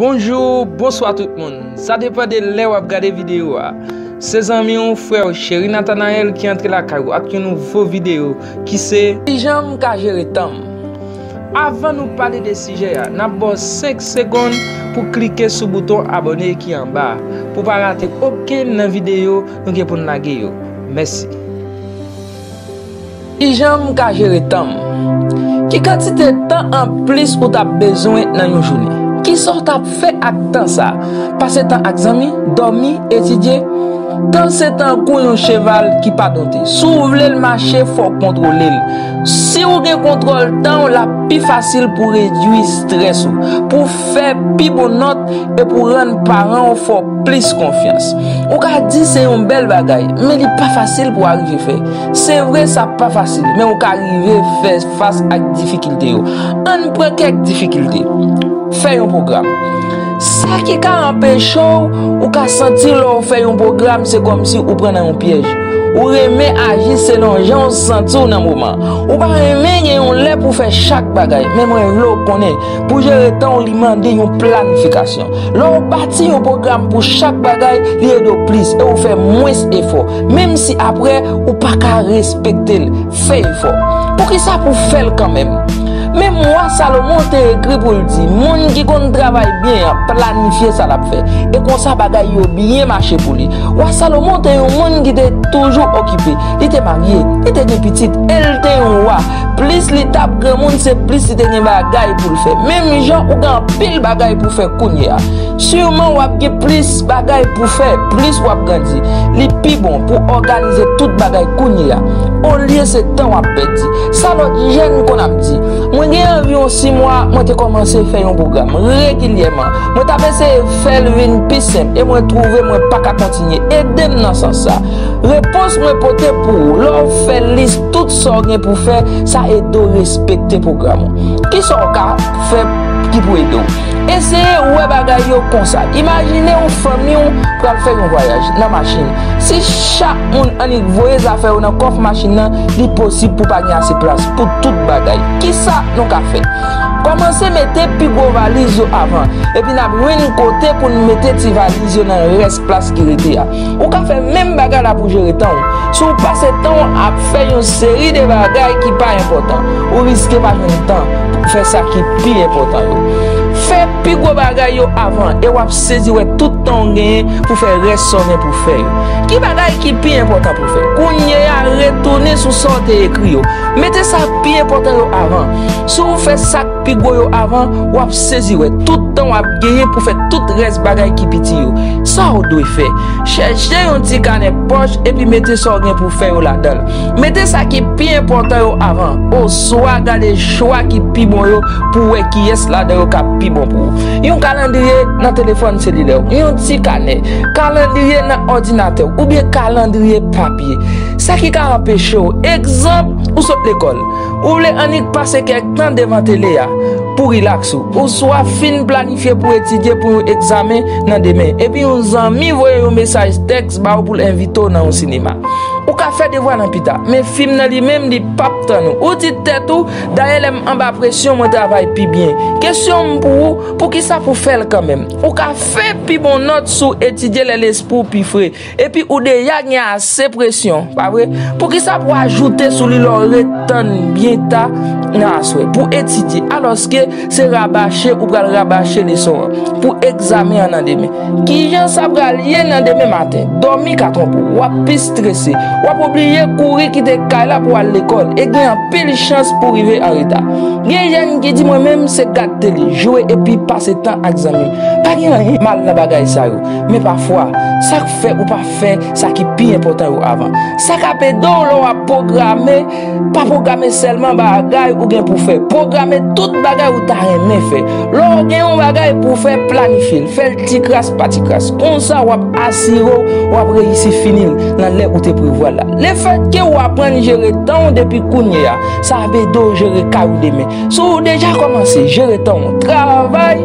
Bonjou, bonswa tout moun. Sa depan de lè wap gade video a. Se zanmi w, frè w, Cheri Nathanaël ki antre lakay ou ak yon nouvo video ki se, Kijan m ka jere tan m? Avan nou pale de sijè a, nap ba w 5 segonn pou klike sou bouton abone ki anba a, pou pa rate okenn nan video nou gen pou n lage yo. Mèsi. Kijan m ka jere tan m? Ki kantite tan anplis ou t ap bezwen nan yon jounen? Kisa w t ap fè ak tan sa a? Pase tan ak zanmi? Dòmi? Etidye? Tan se tankou yon cheval ki pa donte. Si w vle l mache, fò w kontwole l. Si w gen kontwòl tan w, l ap pi fasil pou w redui strès ou. fè pi bon nòt e pou rann paran w fè w plis konfyans. Ou ka di se yon bèl bagay, men li pa fasil pou w arive fè. Se vre sa pa fasil, men ou ka rive fè fas ak difikilte yo. Ann pran kèk difikilte. Fè yon pwogram. Sa ki ka anpeche w, Ou ka santi lè w fè yon pwogram se kòmsi ou pran nan yon pyèj. Ou renmen aji selon jan w santi w nan moman an. Ou pa renmen gen yon lè pou w fè chak bagay, men mwen vle w konnen, Pou jere tan w li mande yon planifikasyon. Lè w bati yon pwogram pou chak bagay, li ede w plis e ou fè mwens efò, menm si apre ou pa ka respekte l. Fè efò. Poukisa pou w fè l kanmenm? Menm wa Salomon te ekri pou l di, Moun ki konn travay byen an planifye sa l ap fè, e konsa bagay yo byen mache pou li. Wa Salomon te yon moun ki te toujou okipe. Li te marye, li te gen pitit e l te yon wa. Plis li tap granmoun se plis li te gen bagay poul fè menm jan ou gen anpil bagay pou fè kounye a siman wap gen plis bagay pou fè plis wap grandi li pi bon pou òganize tout bagay kounye a olye se tan wap pèdi sa lòt jèn konn ap di mwen gen anviwon 6 mwa mwen te kòmanse fè yon pwogram regilyèman mwen tap eseye fèl vin pi senp e mwen twouve mwen paka kontinye edem nan sans sa repons mwen pote pou ou lè w fè lis Tout sa w gen pou fè, sa ede w respekte pwogram ou. Ki sa w ka fè ki pou ede w? Eseye wè bagay yo konsa, Imajine ou fanmi w pral fè yon vwayaj nan machin. Si chak moun annik voye zafè yo nan kòf machin nan, li posib pou pa gen ase plas pou tout bagay. Ki sa nou ka fè? Kòmanse mete pi gwo valiz yo avan, epi n ap jwenn kote pou n mete ti valiz yo nan rès. plas ki rete a. Ou ka fè menm bagay la pou jere tan ou. Si w pase tan w ap fè yon seri de bagay ki pa enpòtan, ou riske pa jwenn tan pou w fè sa ki pi enpòtan yo. Fè pi gwo bagay yo avan e w ap sezi wè tout tan w genyen pou fè rès sa w gen pou w fè yo. Ki bagay ki pi enpòtan pou w fè kounye a? Retounen sou sa w te ekri yo. Mete sa k pi enpòtan yo avan. Si w fè sa k. Pi gwo yo avan, w ap sezi wè tout tan w ap genyen pou fè tout rès bagay ki piti yo. Sa w dwe fè, Chèche yon ti kanè pòch epi mete sa w gen pou w fè yo ladan l. Mete sa ki pi enpòtan yo avan, oswa gade chwa ki pi bon yo pou w wè kiyès ladan yo k ap pi bon pou ou. Yon kalandriye nan telefòn selilè w, yon ti kanè, kalandriye nan òdinatè w, oubyen kalandriye papye. Sa ki ka anpeche w, egzanp, ou sot lekòl. Ou vle annik pase kèk tan devan tele a pou rilaks ou? Ouswa fin planifye pou etidye pou yon egzamen nan demen, epi yon zanmi voye yon mesaj tèks ba ou pou l envite w nan yon sinema? Ou ka fè devwa nan pita, men fim nan li menm li pap tann ou. Ou di tèt ou, 'Dayè lè m anba presyon mwen travay pi byen. Kesyon m pou ou, poukisa pou w fè l kanmenm? Ou ka fè pi bon nòt si w etidye lè lespri w pi fre. Epi ou deja gen ase presyon, pa vre? Poukisa pou ajoute sou li lè w ret tann byen ta nan aswè pou etidye, alòske se rabache ou pral rabache leson an pou egzamen an nan demen? Ki jan sa pral ye nan demen maten? Dòmi ka twonpe w, w ap pi strese, w ap oblije kouri kite kay la pou w al lekòl e gen anpil chans pou w rive an reta. Gen jèn ki di mwen menm se gad tele, jwe epi pase tan ak zanmi. Pa gen anyen mal nan bagay sa yo. Men pafwa, sa k fè ou pa fè sa ki pi enpòtan yo avan? Sa k ap ede w lè w ap pwograme? Pa pwograme sèlman bagay ou gen pou w fè. Pwograme tout bagay ou ta renmen fè. Lè w gen yon bagay pou w fè, planifye l. Fè l tikras pa tikras. Konsa, w ap asire w w ap reyisi fini l nan lè ou te prevwa l la. Lefètke ou aprann jere tan w depi kounye a, sa ap ede w jere kay ou demen. Si w deja kòmanse jere tan w, travay,